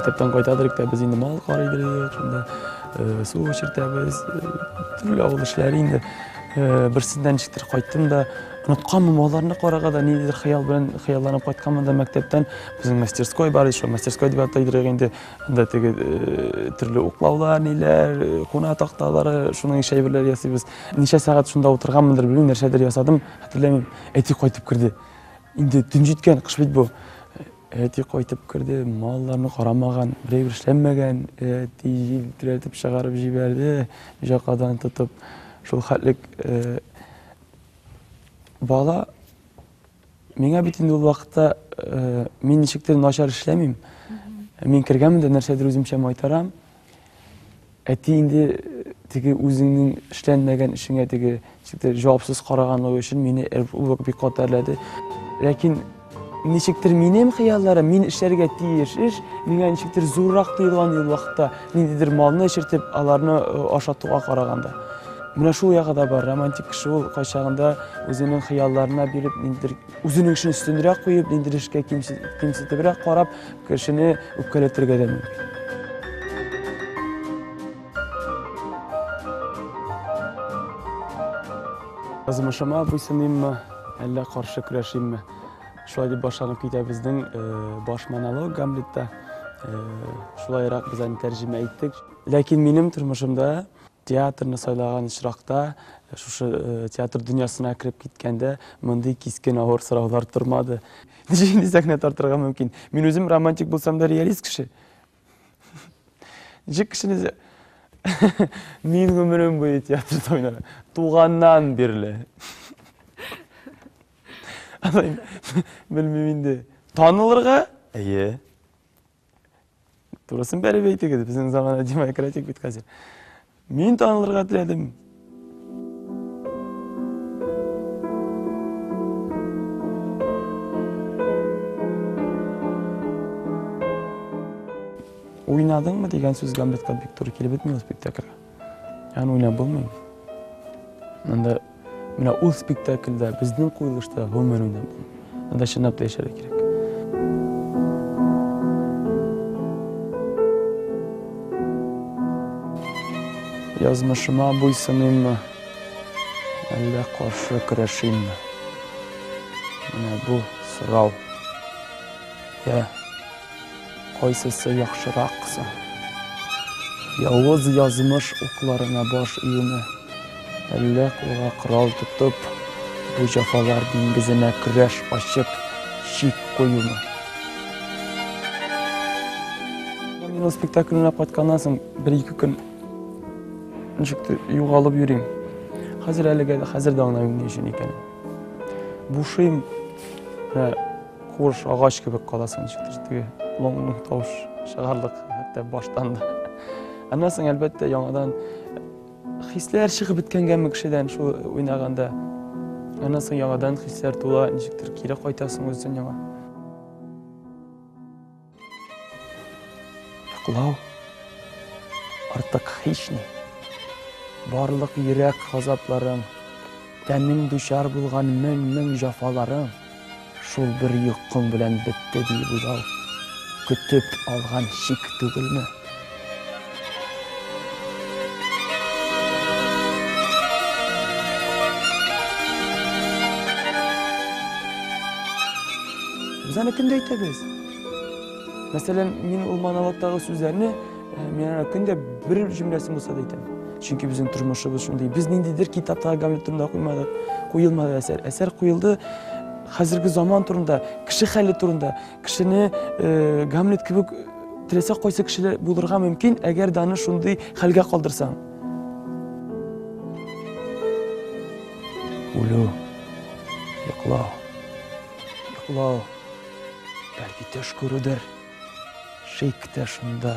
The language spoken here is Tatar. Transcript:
Мәктәптән кайтадырык та без инде мал карыйдырык, шунда э, су эчертәбез, э, төрле авыл эшләре инде. Э, берсеннән ничектер кайттым да, онытканмын малларны карага да, ниндидер хыял белән хыялланып кайтканмын да мәктәптән. Безнең мастерской бар, шул мастерской дип атыйдырык инде. Анда теге э, төрле уклаулар, ниләр, э, куна такталары, шуның ише әйберләр ясыйбыз. Ничә сәгать шунда утырганмындыр, белмим, нәрсәдер ясадым, хәтерләмим. Әти кайтып керде. Инде төн җиткән, кыш бит бу. Әти кайтып керде, малларны карамаган, берәй бер эшләнмәгән. Әти җилтерәтеп чыгарып җибәрде, җакадан тотып. Шул хәтлек э, бала Миңа бит инде ул вакытта э, мин ничектер начар эшләмим. Мин кергәнмен дә нәрсәдер үземчә майтарам. Әти инде э, теге үзеңнең эшләнмәгән эшеңә теге ничектер җавапсыз караганлыгы өчен мине ул вакыт бик каты әрләде. Ләкин ничектер минем хыялларым, мин эшләргә тиеш эш, миңа ничектер зуррак тоелган ул вакытта, ниндидер малны эчертеп, аларны э, ашатуга караганда. Менә шул ягы да бар. Романтик кеше ул кайчагында үзенең хыялларына биреп, ниндидер үзенең эшен өстенрәк куеп, ниндидер эшкә кимсетебрәк карап, кешене үпкәләтергә дә мөмкин. Язмышыма буйсыныйммы, әллә каршы көрәшимме? Шулай дип башланып китә безнең э, баш монолог Гамлетта. Э, шулайрак без аны тәрҗемә иттек. Ләкин минем тормышымда Театрны сайлаган очракта, шушы театр дөньясына кереп киткәндә, мондый кискен авыр сораулар тормады. Ничек инде сәхнә тартырга мөмкин? Мин үзем романтик булсам да реалист кеше. Ничек кешене Мин гомерем буе театрда уйнарга. Туганнан бирле. Алай, белмим инде. Танылырга? Әйе. Турысын бәреп әйтегез, безнең замана демократик бит хәзер. Мин танылырга теләдем. Уйнадыңмы дигән сүзгә бит бик туры килеп бетмәде спектакльгә. Аны уйнап булмый. Анда менә ул спектакльдә, безнең куелышта гомумән уйнап булмый. Анда чынлап та яшәргә кирәк. Язмышыма буйсыныммы? Әллә каршы көрәшимме? Менә бу сорау. Я Кайсысы яхшырак соң? Явыз язмыш укларына баш июме, әллә кулга корал тотып, бу җәфалар диңгезенә көрәш ачып, чик куюмы? Мин ул спектакльне кайтканнан соң бер-ике көн ничектер югалып йөрим. Хәзер әлегә хәзер дә аңламыйм ни өчен икәнен. Бушыйм. Хуш агач кебек каласың, ничектер теге лоңлы тавыш чыгарлык, хәтта баштан да. Аннан соң, әлбәттә, яңадан хисләр чыгып беткәнгәме кешедән шул уйнаганда. Аннан соң яңадан хисләр тула, ничектер кире кайтасың үзен яңа. Йоклау артык һични. Барлык йөрәк газапларың, тәнең дучар булган мең-мең җафаларың шул бер йокың белән бетте, диеп уйлау көтеп алган шик түгелме? Без аны көндә әйтәбез. Мәсәлән, мин ул монологтагы сүзләрне мин аны көндә бер җөмләсен булса да әйтәм. Чөнки безнең тормышыбыз шундый. Без ниндидер китапта Гамлет турында куймадык, куелмады әсәр. Әсәр куелды хәзерге заман турында, кеше хәле турында. Кешене Гамлет кебек теләсә кайсы кешеләр булырга мөмкин, әгәр дә аны шундый хәлгә калдырсаң. Үлү, йоклау, йоклау, бәлки төш күрүдер, шик тә шунда.